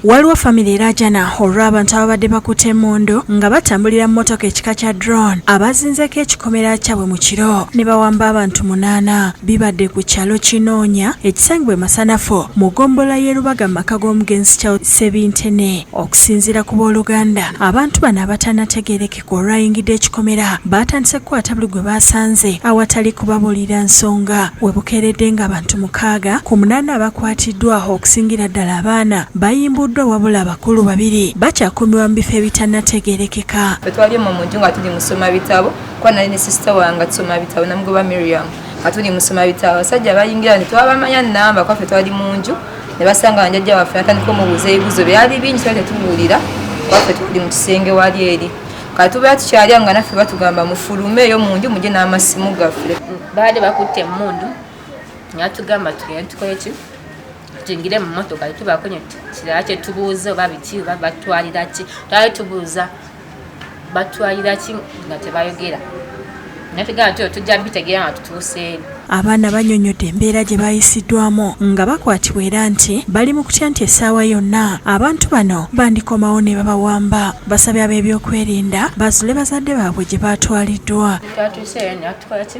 Waliwo famire erajana olw'abantu ababadde bakutte emmundu nga batambulira mu motoka ekika kya drone abazinzeeko ekikomera kyabwe mu kiro ne bawamba abantu munaana bibadde ku kyalo kinoonya ekisangibwa emasanafu mu ggombola y'e Lubaga mu maka g'omugenzi Charles Sebintene okusinziira ku booluganda abantu bano abatanategeereke olwayingidde ekikomera baatandise kukwata buli gwe baasanze awatali kubabuulira nsonga we bukeeredde ng'abantu mukaaga ku munaana abakwatiddwa okusingira ddala abaana bayimbuddwa wabula abakulu babiri bakyakuumirwa mu bifo ebitannategeerekeka twali mu muntu nga tuli musoma bitabo kuba nali ne sisita wange tusoma bitabo namugoba miriam nga tuli musoma bitabo abasajja bayingira nti twabamanya namba kwaffe twali mu nju ne basanga banjajja waffe natandika omubuuza ebibuzo byali bingi twali tetubuulira waffe tuli mu kisenge wali eri kati tubeera tukyalya nga naffe batugamba mufulume eyo mu nju mugye n'amasimu gaffe baali bakutte emmundu natugamba tugende tukoleki tuyingire mu motoka tetubaako kirala kyetubuuza oba biki oba batwalira ki twali tubuuza batwalira ki nga tebayogera nategera nti tujja bitegeera nga tutuuseeri abaana banyonyodde embeera gye bayisiddwamu nga bakwatibwa era nti bali mu kutya nti essaawa yonna abantu bano bandikomawo ne babawamba basabye ab'ebyokwerinda bazule bazadde baabwe gye baatwaliddwa twatuuseeyo natukolaki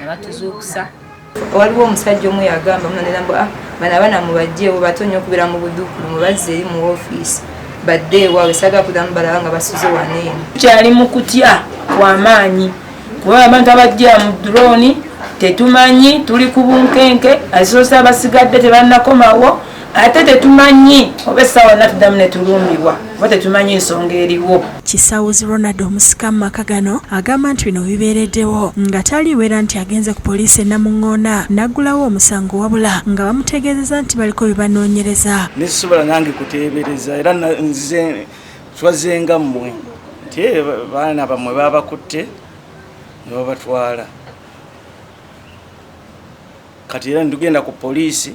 nabatuzuukusa waliwo omusajja omu yagamba munanera mbu ah, bana abaana mubajjeewo bato nnyo okubeera mu budukulu mubazze eri mu ofiisi badde ewaawe sagala kudamu balaba nga basuze waneeno kyali mu kutya kwamaanyi kuba abantu abajja mu durooni tetumanyi tuli ku bunkenke azisosa abasigadde tebannakomawo ate tetumanyi oba essaawa natuddamu ne tulumbibwa oba tetumanyi nsonga eriwo kisawuzi ronald omusika mu maka gano agamba nti bino bibeereddewo nga taliwera nti agenze ku poliisi enamuŋŋoona n'aggulawo omusango wabula nga bamutegeezeza nti baliko bye banoonyereza nesisobola nange kuteebereza era nzize twazenga mmwe nti eh, baana bammwe babakutte ne babatwala kati era ndugenda ku poliisi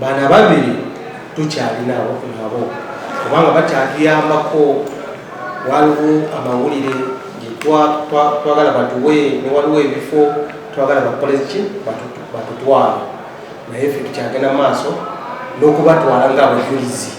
bana babiri tukyalinawo nabo kubanga bakyatuyambako waliwo amawulire twagala batuwe newaliwo ebifo twagala bakoleki batutwala naye fe tukyagenda maaso n'okubatwala nga abajulizi